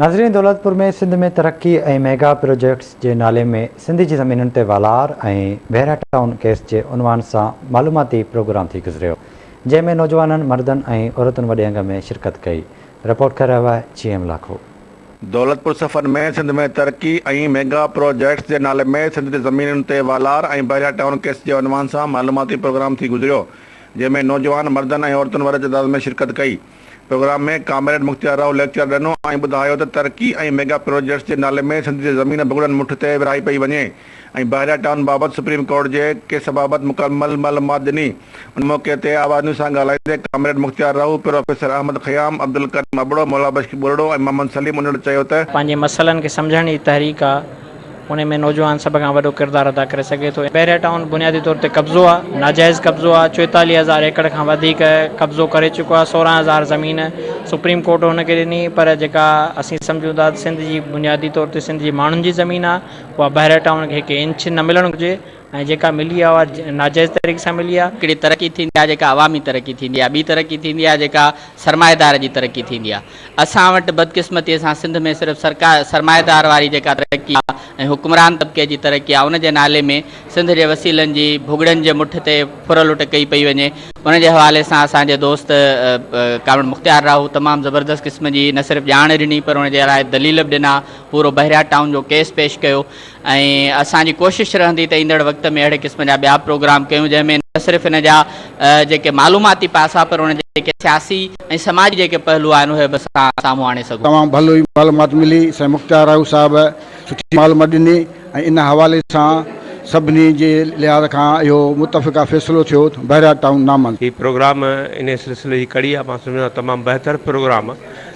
ناظرين دولتپور ۾ سنڌ ۾ ترقي ۽ mega projects جي نالي ۾ سنڌ جي زمينن تي والار ۽ ڀيرا ٽائون ڪيس جي عنوان سان معلوماتي پروگرام ٿي گذريو جنهن ۾ نوجوانن مردن ۽ عورتن وڏي انگ ۾ شرڪت ڪئي رپورٽ ڪري رهيو آهي جي ايم لاکو. دولتپور صفحن ۾ سنڌ ۾ ترقي ۽ ميگا پروجيڪٽس جي نالي ۾ سنڌ جي زمينن تي والار ۽ بحريا ٽائون ڪيس جي عنوان سان معلوماتي پروگرام ٿي گذريو جنهن ۾ نوجوان مردن ۽ عورتن وڏي تعداد ۾ شرڪت ڪئي. Programme ۾ comrade Mukhtiar Raho lecture ڏنو ۽ ٻڌايو ته ترقي ۽ ميگا پروجيڪٽس جي نالي ۾ سنڌ جي زمين ڀڳڙن مٺ تي ورهائي پئي وڃي ۽ بحريا ٽائون بابت سپريم ڪورٽ جي ڪيس بابت مڪمل معلومات ڏني ان موقعي تي آواز نيوز سان ڳالهائيندي ڪامريڊ مختيار راهو پروفيسر احمد خيام عبدالڪريم ابڙو مولابخش ٻرڙو ۽ محمد سليم انڙ چيو ته پنهنجي مسئلن کي سمجهڻ جي تحريڪ آ. انهي ۾ نوجوان سڀ کان وڏو ڪردار ادا ڪري سگهي ٿو. بحريا ٽائون بنيادي طور تي قبضو آ، ناجائز قبضو آ، چوئيتاليهه هزار ايڪڙ کان وڌيڪ قبضو ڪري چڪو آ، سورهن هزار زمين سپريم ڪورٽ هن کي ڏني پر جيڪا اسين سمجهون ٿا سنڌ جي بنيادي طور تي سنڌ جي ماڻهن جي زمين آ اها بحريا ٽائون کي هڪ انچ نه ملڻ گهرجي، ۽ جيڪا ملي آهي اها ناجائز طريقي سان ملي آهي. هڪڙي ترقي ٿيندي آهي جيڪا عوامي ترقي ٿيندي آهي، ٻي ترقي ٿيندي آهي جيڪا سرمائيدار جي ترقي ٿيندي آهي. اسان وٽ بدقسمتيء سان سنڌ ۾ صرف سرڪار سرمائيدار واري جيڪا ترقي آهي ۽ حڪمران طبقي جي ترقي آهي ان جي نالي ۾ سنڌ جي وسيلن جي ڀڳڙن جي مٺ تي ڦر لٽ ڪئي پئي وڃي ان جي حوالي سان اسان جي دوست ڪامريڊ مختيار راهو تمام زبردست قسم جي نه صرف ڄاڻ ڏني پر ان جي لاء دليل به ڏنا پورو بحريا ٽائون جو ڪيس پيش ڪيو ۽ اسان جي ڪوشش رهندي ته ايندڙ وقت ۾ اهڙي قسم جا ٻيا پروگرام ڪيون جنهن ۾ نه صرف ان جا جيڪي معلوماتي پاسا پر ان جا جيڪي سياسي ۽ سماجي جيڪي پهلو آهن اهي به اسان سامهون آڻي سگهون. تمام ڀلي معلومات ملي سائين مختيار راهو صاحب سٺي معلومات ڏني ۽ ان حوالي سان سڀني جي لحاظ کان اهو متفقه فيصلو ٿيو ته بحريا ٽائون نامن. هي پروگرام انهي سلسلي جي ڪڙي آهي مان سمجهندو آهيان تمام بهتر پروگرام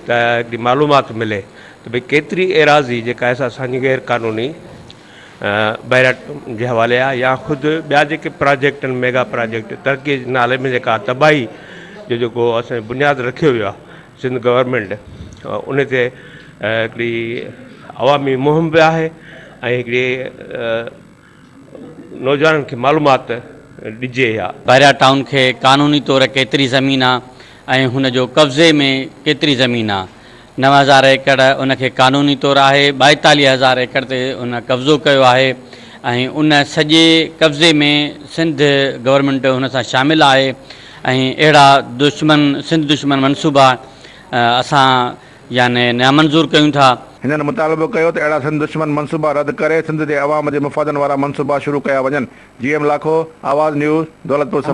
ته هڪڙي معلومات ملي ته ڀئي ڪيتري ايراضي جيڪا ايس اسان جي غير قانوني بئراٽ جي حوالي آهي يا خود ٻيا جيڪي پراجيڪٽن ميگا پراجيڪٽ ترقي جي نالي ۾ جيڪا تباهي جو جيڪو اسان جي بنياد رکيو ويو آهي سنڌ گورنمينٽ ان تي هڪڙي عوامي مهم به آهي ۽ هڪڙي نوجوانن کي معلومات ڏجي ها. بحريا ٽائون کي قانوني طور ڪيتري زمين آ ۽ هن جو قبضي ۾ ڪيتري زمين آ؟ نو هزار ايڪڙ ان کي قانوني طور آهي، ٻائيتاليهه هزار ايڪڙ تي ان قبضو ڪيو آهي ۽ ان سڄي قبضي ۾ سنڌ گورنمينٽ هن سان شامل آهي ۽ اهڙا دشمن سنڌ دشمن منصوبا اسان يعني نامنظور ڪيون ٿا. هنن مطالبو ڪيو ته اهڙا سنڌ دشمن منصوبا رد ڪري سنڌ جي عوام جي مفادن وارا منصوبا شروع ڪيا وڃن، جي ايم لاکو، آواز نيوز، دولتپور صفا.